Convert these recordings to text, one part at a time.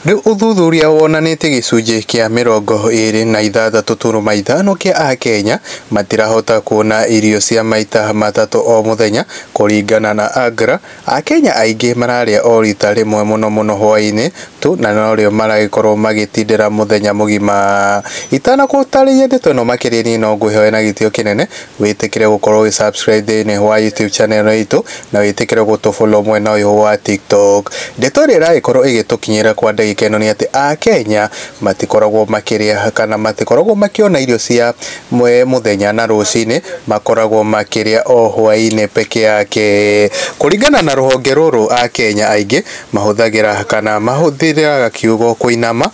Nĩ ũthuthuria wonanĩtie gĩcunjĩ kĩa mĩrongo ĩĩrĩ na ithathatũ turuma ithano kĩa Akenya matirahota kuona irio cia maita matatũ o mũthenya. Kũringana na AGRA, Akenya aingĩ mararĩa o rita rĩmwe mũno mũno hwaĩ-inĩ tu na norĩo maragĩkorwo magĩtindĩra mũthenya mũgima. Itanagũtarĩria ndeto ĩno makĩria niĩ no ngwĩhoe na gĩtĩo kĩnene wĩtĩkĩre gũkorwo ũgĩ subscribe thĩinĩ wa YouTube channel ĩno itũ na wĩtĩkĩre gũtũ follow mwena ũyũ wa TikTok. Ndeto ĩrĩa ĩragĩkorwo ĩgĩtũkinyĩra kwa ndagĩka ĩno nĩ atĩ a Kenya matikoragwo makĩrĩa kana matikoragwo makĩona irio cia mũthenya na rũcinĩ, makoragwo makĩrĩa o hwainĩ peke yake. Kũringana na rũhonge rũrũ a Kenya aingĩ mahũthagĩra kana mahũthĩraga kiugo kũinama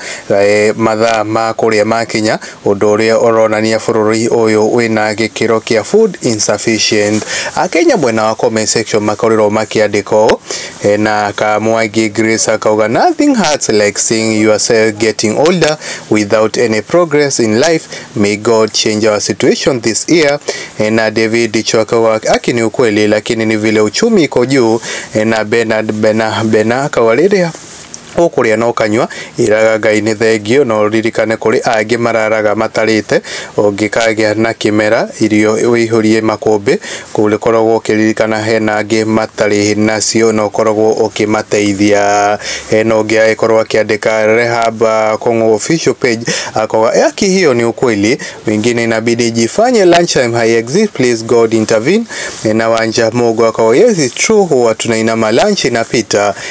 mathaa ma kũrĩa makinya. Ũndũ ũrĩa ũronania bũrũri ũyũ wĩna gĩkĩro kĩa food insufficient. Akenya mwena wa comment section makorirwo makĩandĩka ũũ, hena ka Mwangi Grace akauga nothing hurts like seeing yourself getting older without any progress in life, may God change our situation this year. Hena David Dicho akauga haki ni ukweli lakini ni vile uchumi iko juu. Hena Bernard Bena Bena akauga rĩrĩa Ũkũrĩa na ũkanyua, ĩraga Ngai nĩ thengio, no ũririkane kũrĩ angĩ mararaga matarĩte. Ũngĩkagĩa na kĩmera, irio ũihũrie makũmbĩ, kũrĩkoragwo ũkĩririkana hena angĩ matarĩ nacio na ũkoragwo ũkĩmateithia. Hena ũngĩ agĩkorwo akĩandĩka Rehab Kũng'ũ official page, akauga yaki hiyo ni ukweli, wengine inabidi jifanye lunch time haiexist, please God intervene. Na Wanja Mungu akauga yes it's true, huwa tunainama lunch inapita.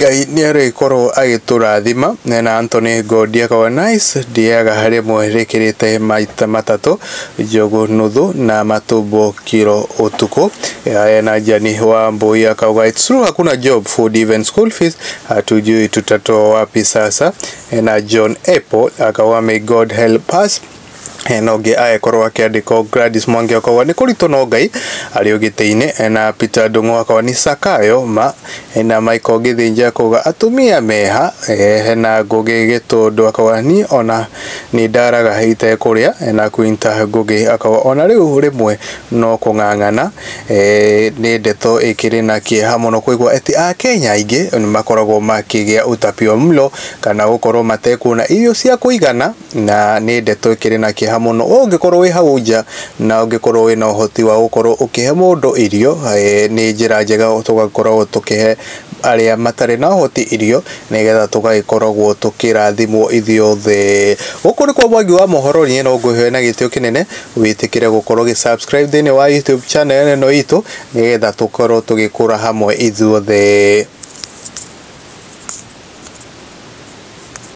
Ngai nĩarĩkorwo agĩtũrathima na Anthony Ngondi akauga nice ndĩaga rĩmwe rĩkĩrĩte maita matatũ njogu nuthu na matumbo kiro ũtukũ haya na Jani wa Mbui akauga it's true hakuna job food even school fees hatujui tutatoa wapi sasa na John Apple akauga may God help us eh, na ũngĩ agĩkorwo akĩandĩkwo Gladys Mwangi akorwo nĩ kũritũ no Ngai arĩ ũgĩtĩ-inĩ eh, na Peter Ndung'u akorwo nĩ Sakayo ma eh, na Michael Gĩthĩnja kuga atumia meha eh, na Ngũgĩ Gĩtũndũ akorwo niĩ ona nĩ ndaraga itekũrĩa eh, na Quinta Ngũgĩ akorwo ona rĩu rĩmwe no kũng'ang'ana eh, nĩ ndeto ĩkĩrĩ na kĩeha mũno kũigua atĩ Akenya aingĩ nĩ makoragwo makĩgĩa utapio mlo kana gũkorwo matekuona irio cia kũigana na nĩ ndeto ĩkĩrĩ na kĩeha mũno ũngĩkorwo wĩ hau nja na ũngĩkorwo wĩ na ũhoti wa gũkorwo ũkĩhe mũndũ irio, nĩ njĩra njega tũgakoragwo tũkĩhe arĩa matarĩ na ũhoti irio nĩgetha tũgagĩkoragwo tũkĩrathimwo ithuĩ othe. Gũkũ nĩkuo Mwangi wa Mohoro, niĩ no ngũhe na gĩtĩo kĩnene wĩtĩkĩre gũkorwo ũgĩ subscribe thĩinĩ wa YouTube channel ĩno itũ nĩgetha tũkorwo tũgĩkũra hamwe ithuothe.